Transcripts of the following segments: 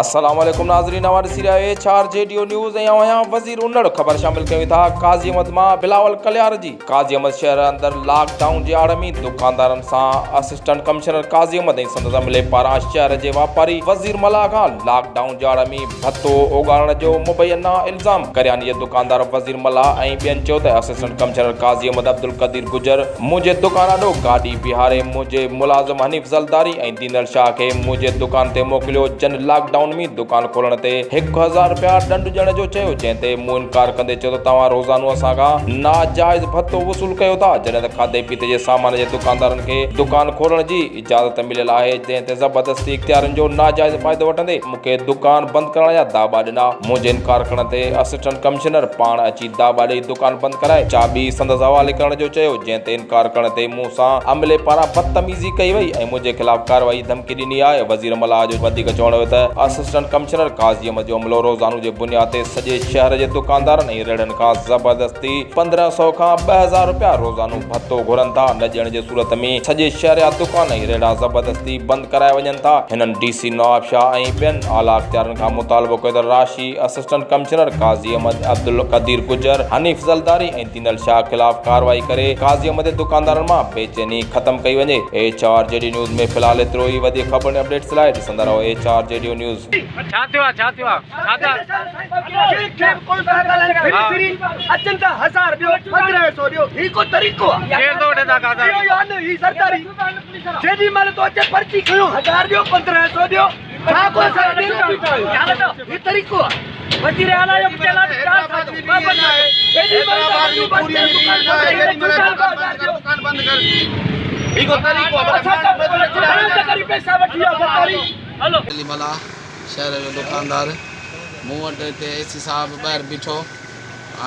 السلام عليڪم ناظرين اوهان ڏسي رهيا ايڇ آر جي ڊيو نيوز ۽ آئون آهيان وزير انڙ خبر شامل ڪيون ٿا قاضي احمد مان بلاول ڪليار جي قاضي احمد شهر اندر لاڪ ڊائون جي آڙ ۾ دڪاندارن سان اسسٽنٽ ڪمشنر قاضي احمد ۽ سندس عملي پاران شهر جي واپاري وزير ملاح کان لاڪ ڊائون جي آڙ ۾ ڀتو اوڳاڙڻ جو مبينا الزام ڪرياني جي دڪاندار وزير ملاح ۽ ٻين چيو ته اسسٽنٽ ڪمشنر قاضي احمد عبدالقدير گجر منهنجي دڪان آڏو گاڏي بيهاري منهنجي ملازم حنيف زلداري ۽ ڏنل شاهه کي منهنجي دڪان تي موڪليو، جن لاڪ ڊائون ۾ دڪان کولڻ تي هڪ هزار رپيا ڏنڊ ڏيڻ جو چيو، جنهن تي مون انڪار ڪندي چيو ته توهان روزانو اسان کان ناجائز ڀتو وصول ڪيو ٿا، جڏهن ته کاڌي پيتي جي سامان جي دڪاندارن کي دڪان کولڻ جي اجازت مليل آهي، جنهن تي زبردستي اختيارين جو ناجائز فائدو وٺندي مون کي دڪان بند ڪرڻ جا داٻا ڏنا، منهنجي انڪار ڪرڻ تي اسسٽنٽ ڪمشنر پاڻ اچي دا ٻاڏي دڪان بند ڪرائي چاٻي سندس حوالي ڪرڻ جو چيو، جنهن تي انڪار ڪرڻ تي مون سان عملي پاران بدتميزي ڪئي وئي ۽ منهنجي خلاف ڪارروائي جي ڌمڪي ڏني آهي. وزير ملاح جو وڌيڪ چوڻ هيو ته اسسٽنٽ ڪمشنر قاضي احمد جو عملو روزانو جي بنياد تي سڄي شهر جي دڪاندارن ۽ ريڙهن کان زبردستي پندرهن سؤ کان ٻه هزار رپيا روزانو ڀتو گهرن ٿا، نه ڏيڻ جي صورت ۾ سڄي شهر جا دڪان ۽ ريڙها زبردستي بند ڪرايا وڃن ٿا. هنن ڊي سي نوابشاهه ۽ ٻين اعليٰ اختيارين کان مطالبو ڪيو ته راشي. اسسٽنٽ ڪمشنر قاضي احمد عبدالقدير گجر، حنيف زلداري ۽ دينل شاهه خلاف ڪارروائي ڪري قاضي احمد جي دڪاندارن مان بيچيني ختم ڪئي وڃي. ايڇ آر جيڊيو نيوز ۾ في الحال ايترو ئي وڌيڪ خبرن ۽ اپڊيٽس لاء ڏسندا رهو ايڇ آر جيڊيو نيوز. علي ملاح شهر جو دوڪاندار مون وٽ هتي اي سي صاحب ٻاهر بيٺو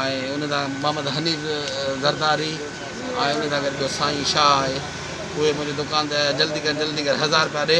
۽ ان سان محمد حنيف زرداري ۽ ان سان گڏ جو سائين شاهه آهي اهي منهنجي دوڪان تي آيا جلدي ڪر جلدي ڪر هزار رپيا ڏي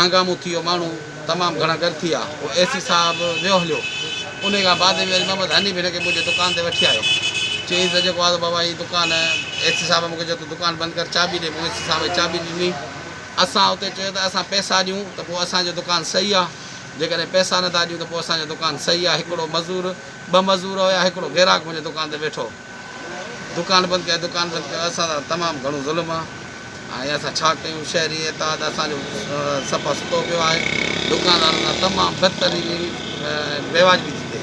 هنگامو ٿيو ماڻهو تمام گهڻا ڳر ٿيا پوء اي سي صاحب ويو هليو انهي کان بعد ۾ وري محمد حنيف هن کي منهنجي دڪان تي وٺي آيو چيس ته جيڪو آزو بابا هي دڪان اي سي صاحب مون کي چيو ته دڪان بند ڪر چاٻي ڏي مون اي سي صاحب کي چاٻي ڏني اسان اتي چيو ته اسان پئسا ڏيون ته پوء اسان جو دڪان صحيح آ جيڪڏهن پئسا نٿا ڏيون ته پوء اسان جو دڪان صحيح آ هڪڙو مزور ٻه مزور هيا هڪڙو گراهڪ منهنجي دڪان تي ويٺو دڪان بند ڪيا دڪان بند ڪيا اسان سان تمام گھڻو ظلم آ ۽ اسان ڇا ڪيون شھري اتحاد اسان جو صفا ستو پيو آھي دڪاندارن سان تمام بدترين ۽ بيواجبي ٿي ٿئي